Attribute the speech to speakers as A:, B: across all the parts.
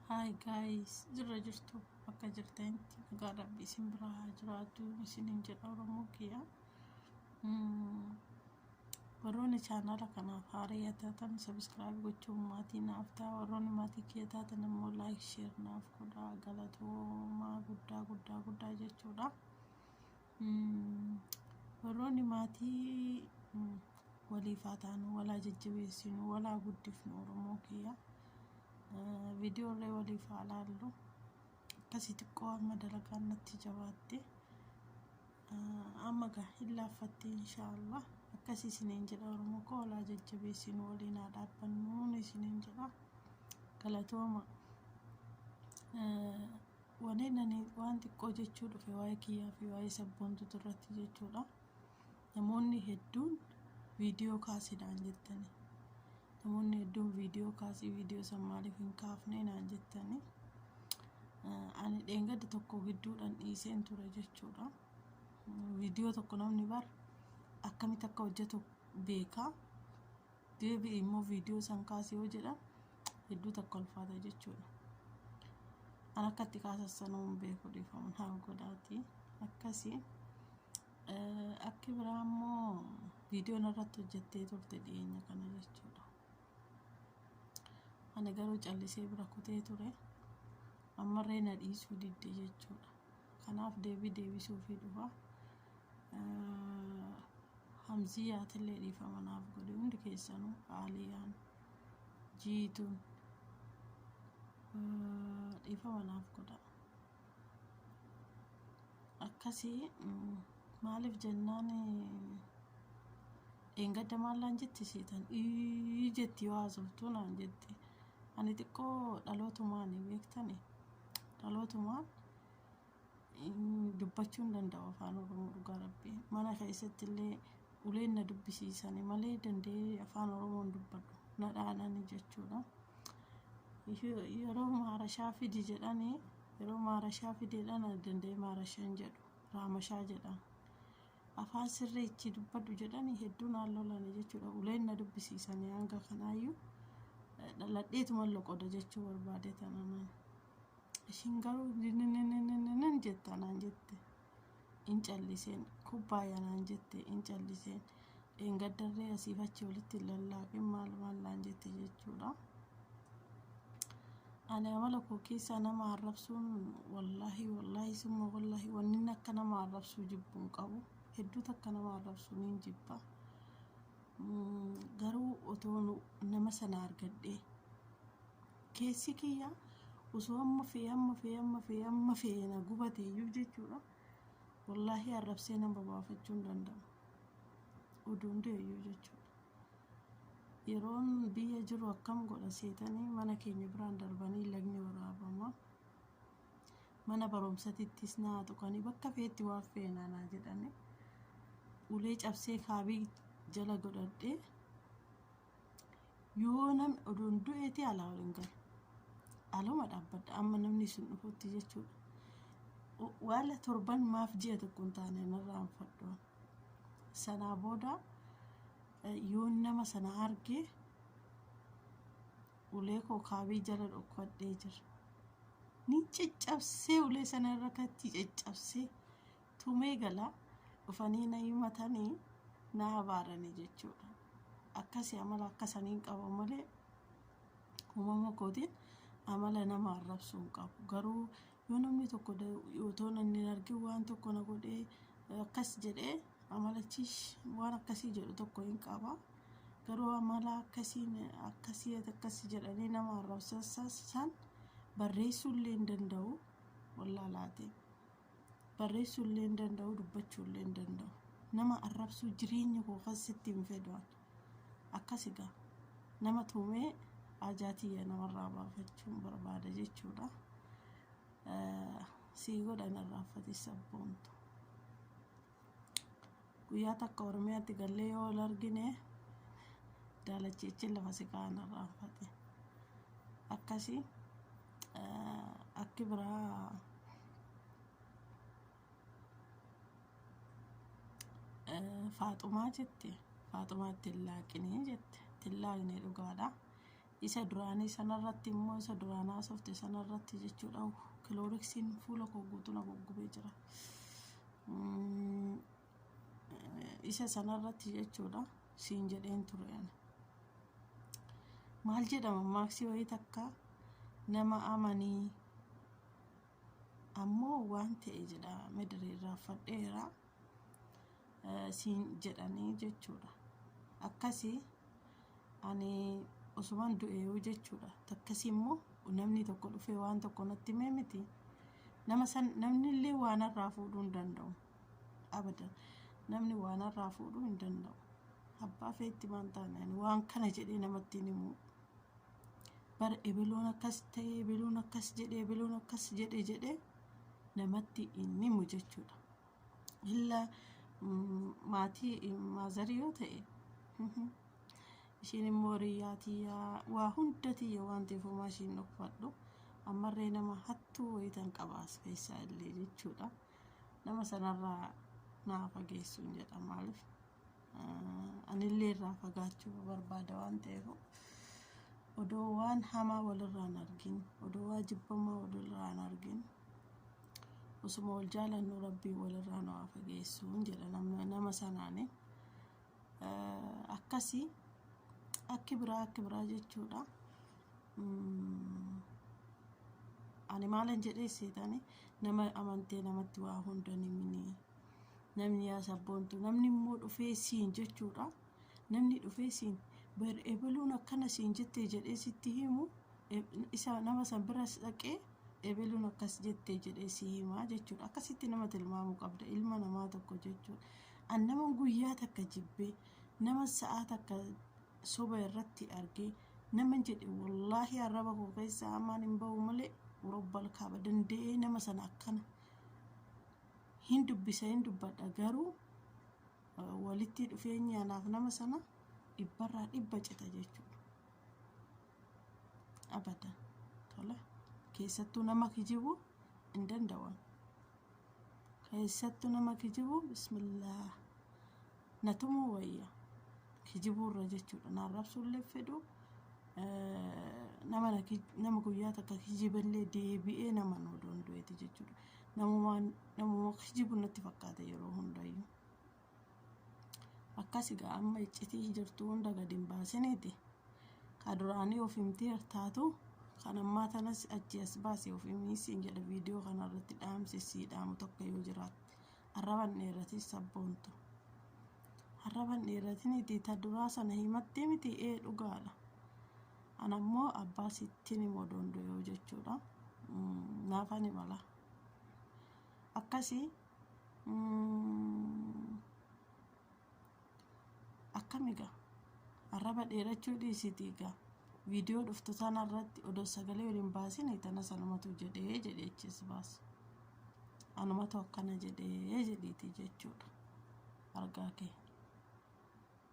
A: Hi guys, jirra jirtu bakka jirtanitti nagaa rabbi isin bira haa jiraatu isinin jedha Oromoo kiyya. Mm, Warroonni chaanaala kanaaf haaraa taatan sabiskiraayib gochuun maatii naaf ta'a. Warroonni maatii kiyya taatan immoo laayik sheer naaf godhaa galatoomaa guddaa guddaa guddaa jechuudha. Warroonni maatii waliif haa taanu, wal haa jajjabeessinu, wal haa guddifnu Oromoo kiyya. Viidiyoollee waliif haa laallu. Akkasii xiqqoo amma dalagaan natti jabaatte. Amma gaa hin laaffattee inshaallah. Akkasii isiniin jedha Oromoo koo wal haa jajjabeessinu waliin haa dhaabbannu isiniin jedha. Galatooma. Waneen ani waan xiqqoo jechuu dhufe waa'ee kiyyaa fi waa'ee sabboontutu irratti jechuudha. Namoonni hedduun viidiyoo kaasi naan jettani. Namoonni hedduun viidiyoo kaasii viidiyoo san maaliif hin kaafne naan jettani. Ani dheengadda tokko gidduudhaan dhiiseen ture jechuudha. Viidiyoo tokko namni bar akkamitti akka hojjetu beekaa. deebi'i immoo viidiyoo san kaasi yoo jedhan hedduu takka ulfaata jechuudha. An akka itti kaasan sanuu hin beeku dhiifama naa godhaati. Akkasi akki biraa immoo viidiyoo narratti hojjettee turte dhiyeenya kana jechuudha. Ani garuu callisee bira kutee ture. Ammarree na dhiisuu didde jechuudha. Kanaaf deebii deebisuufii dhufa. Hamziyaatillee dhiifama naaf godhi hundi keessanuu Aaliyaan jiituun dhiifama naaf godha akkasii maaliif jennaan dheengadda maallaan jetti seetan ii jetti yoo haasoftuu naan jetti ani xiqqoo dhalootumaan beektani dhalootumaan dubbachuu hin danda'u afaan oromoo dhugaa rabbii mana keessatti illee uleen na dubbisiisani malee danda'ee afaan oromoo hin dubbadhu na dhaanani jechuudha yeroo maarashaa fidi jedhani yeroo maarashaa fideedha na danda'ee maarashaa hin jedhu raamashaa jedhan afaan sirrii itti dubbadhu jedhani hedduu naan lolani jechuudha uleen na dubbisiisani hanga kanaayyuu dhaladheetuma loqoda jechuu barbaade tananaan. Ishiin garuu ninninninninnin jetta naan jette. In calliseen kubbaaya naan jette in calliseen. Dheengaddarree asiif achi walitti hin lallaaqin maal maal naan jette jechuudha. Ani amala koo keessaa nama arrabsuun wallaahi wallaahi summa wallaahi wannin akka nama arrabsuu jibbuu hin qabu. Hedduutu akka nama arrabsuu niin jibba. Mm, Garuu otoo nu- nama sana argadhee Keessi kiyya osoo amma fe'e amma fe'e amma fe'e amma fe'e na gubate iyyuu jechuudha. Wallaahii arrabsee nama baafachuu hin danda'u. Oduun du'e iyyuu jechuudha. Yeroon biyya jiru akkam godha seetanii mana keenya biraan darbanii lagni waraabama. Mana barumsatittis naa tuqanii bakka fe'etti waan fe'e naa naa jedhanii ulee cabsee kaabii jala godhadhee yoo nam odoon du'eeti alaa ol hin galu aluma dhaabbadha amma namni isin dhufutti jechuudha waala torban maaf ji'a tokko hin taane narraa hin fadhoon sanaa booda yoo nama sana argee ulee koo kaabii jala dhokkadhee jira ni caccabsee ulee sana irra kattii caccabsee tumee gala dhufanii na himatanii na abaarani jechuudha akkasi amala akkasaniin qaba malee uumama kootiin amala nama arrabsuu hin qabu garuu yoo namni tokko otoo nan hin argin waan tokko na godhee akkas jedhee amalachiis waan akkasii jedhu tokko hin qaba garuu amala akkasiin akkasii akkasi jedhanii nama arrabsan barreessuu illee hin danda'u wallaalaatiin. barreessuu illee hin danda'u dubbachuu illee hin danda'u nama arrabsuu jireenya koo kan sitti hin fedhaan akkas egaa nama tuumee ajaatiyya namarraa baafachuun barbaada jechuudha sii godhan irraanfatis sabboontu Guyyaa takka Oromiyaatti gallee yoo wal argine daalachiichin lafa si kaa'an irraanfate. Akkasi akki biraa faaxumaa jette faaxumaa ittiin laaqinii jette ittiin laaqnee dhugaadha. Isa duraanii sanarratti immoo isa duraan haasofte sanarratti jechuudha kilooriksiin fuula koo guutuu na goggubee jira. Isa sanarratti jechuudha siin jedheen ture ani. Maal jedhama maaksii wayii takka nama amanii ammoo waan ta'e jedha midiriin raaffadheera siin jedhanii jechuudha. Akkasii ani osuman du'eeyuu jechuudha takkasii immoo namni tokko dhufee waan tokko natti himee miti nama san namni illee waan irraa fuudhuu hin danda'u abadan namni waan irraa fuudhuu hin danda'u abbaa feetti maan taane ani waan kana jedhee namatti hin himuu bar ebeloon akkas ta'e ebeloon akkas jedhe ebeloon akkas jedhe jedhe namatti hin himu jechuudha illa maatii maazarii yoo ta'e ishiin immoo riyyaa tiyyaa waa hunda tiyya waan ta'eef homaa ishiin dhokfadhu ammarree nama hattuu wayitan qabaas keessaa illee jechuudha nama sanarraa naa fageessuun jedha maaliif anillee irraa fagaachuu barbaada waan ta'eef odoo waan hamaa walirraan argin odoo waa jibbamaa walirraan argin osuma wal jaalannu rabbiin walirraa nu haa fageessuun jedha nama, nama sanaani Eh, akkasi akki biraa akki biraa jechuudha Mm, ani maalan jedhee seetani nama amantee namatti waa hunda ni minii namni yaa sabboontu namni immoo dhufee siin jechuudha namni dhufee siin bar ebaluun akkana siin jettee jedhee sitti himu isa nama san biras dhaqee ebeluun akkas jette jedhee si himaa jechuudha akkasitti nama tilmaamuu qabda ilma namaa tokko jechuudha an nama guyyaa takka jibbee nama sa'aa takka soba irratti argee nama jedhe wallaahi arraba koo keessa hamaan hin ba'u malee robbal kaaba danda'ee nama sana akkana hin dubbisa hin dubbadha garuu walitti dhufeenyi anaaf nama sana dhibbarraa dhibba cita jechuudha. abadan tola keessattuu nama kijibu hin danda'an keessattuu nama kijibu bismillaa natumuu wayya kijibuu irra jechuudha na arrabsuullee fedhu nama nama guyyaa takka kijiballee deebi'ee nama nu doondu'eeti jechuudha namuma namuma kijibu natti fakkaata yeroo hundayyuu Akkas egaa amma iccitii jirtu hunda gad hin baasiniiti. Ka duraanii of himtee hartaatu kan ammaa tanas achi as baasee of himii siin jedha viidiyoo kana irratti dhaamsi sii dhaamu tokko yoo jiraatte. Arraban dheeratii sabboontu. Arraban dheeratiniiti ta duraa sana himattee miti ee dhugaadha. Ana immoo abbaa sittiin himoo doondoo yoo jechuudha. Naafan himala. Akkasii akkami gaa arraba dheerachuu dhiisitii gaa viidiyoo dhuftu sana irratti odoo sagalee waliin baasine tana sanumatu jedhee jedheechis baas anumatu akkana jedhee jedhiiti jechuudha argaa kee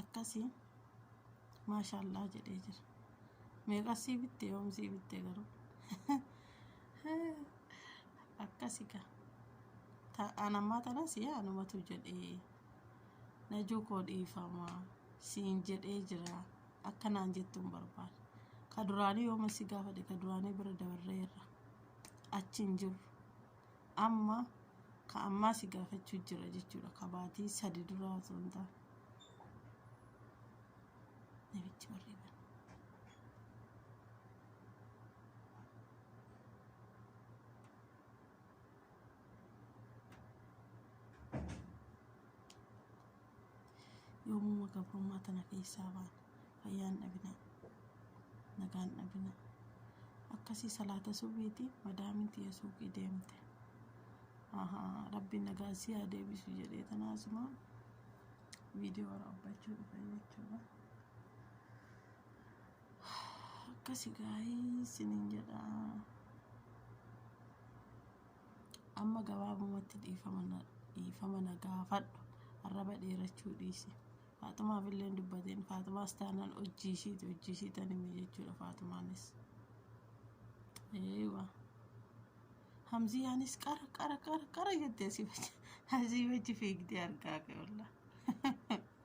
A: akkasi maashaallah jedhee jira meeqas sii bitte yoom sii bitte garuu akkasi ga ta'an ammaa tanas yaa numatu jedhee najuu koo dhiifama siin jedhee jira akkanaan jettuun barbaada ka duraanii yooma si gaafadhe ka duraanii bira dabarreerra achi hin jiru amma ka ammaa si gaafachuu jira jechuudha ka baatii sadi duraa osoo hin taane namichi warri bane. Yoomuma gabrummaa tana keessaa baana. Fayyaan dhabinaa. Nagaan dhabinaa. Akkasii salaata subiiti madaamiin tiyya suuqii deemte. Ahaa rabbiin nagaan si haa deebisu jedhee tana asuma viidiyoo waraabbachuu dhufe jechuudha. Akkasi gaa'ii sinin jedhaa. Amma gabaabumatti dhiifama na gaafadhu. Arraba dheerachuu dhiisi. Faaxumaaf illee hin dubbatiin. Faaxumaas taanaan hojii ishiiti. Hojii ishii tan hime jechuudha Faaxumaanis. Eewa. Hamziyaanis qara qara qara qara jettee asii wajji fiigdee argaa kee wallah.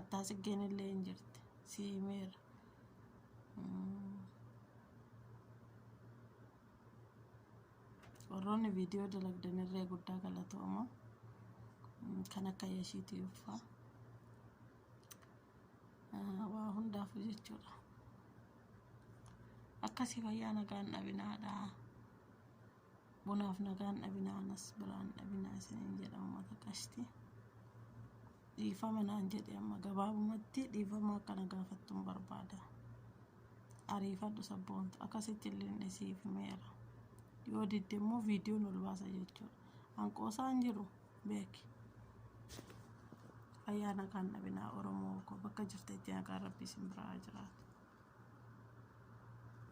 A: Attaa siggeen illee hin jirti. Si himeera. Warroonni viidiyoo dalagdan irree guddaa galatooma. Kan akka yashiitii uffaa. Waa hundaafuu jechuudha. Akkasii fayyaa nagaan dhabinaadha. Bunaaf nagaan dhabinaa anas biraan dhabinaa isiniin jedha uummata qashti. Dhiifama naan jedhe amma gabaabumatti dhiifama akkana gaafattuun barbaada. Ariifadhu sabboontu akkasitti illee hin dhisiif himeera. Yoo didde immoo viidiyoon ol baasa jechuudha. Hanqoosaa hin jiru beeki. Fayyaa nagaan dhabinaa Oromoo koo bakka jirtetti nagaan rabbii isin biraa jiraatu.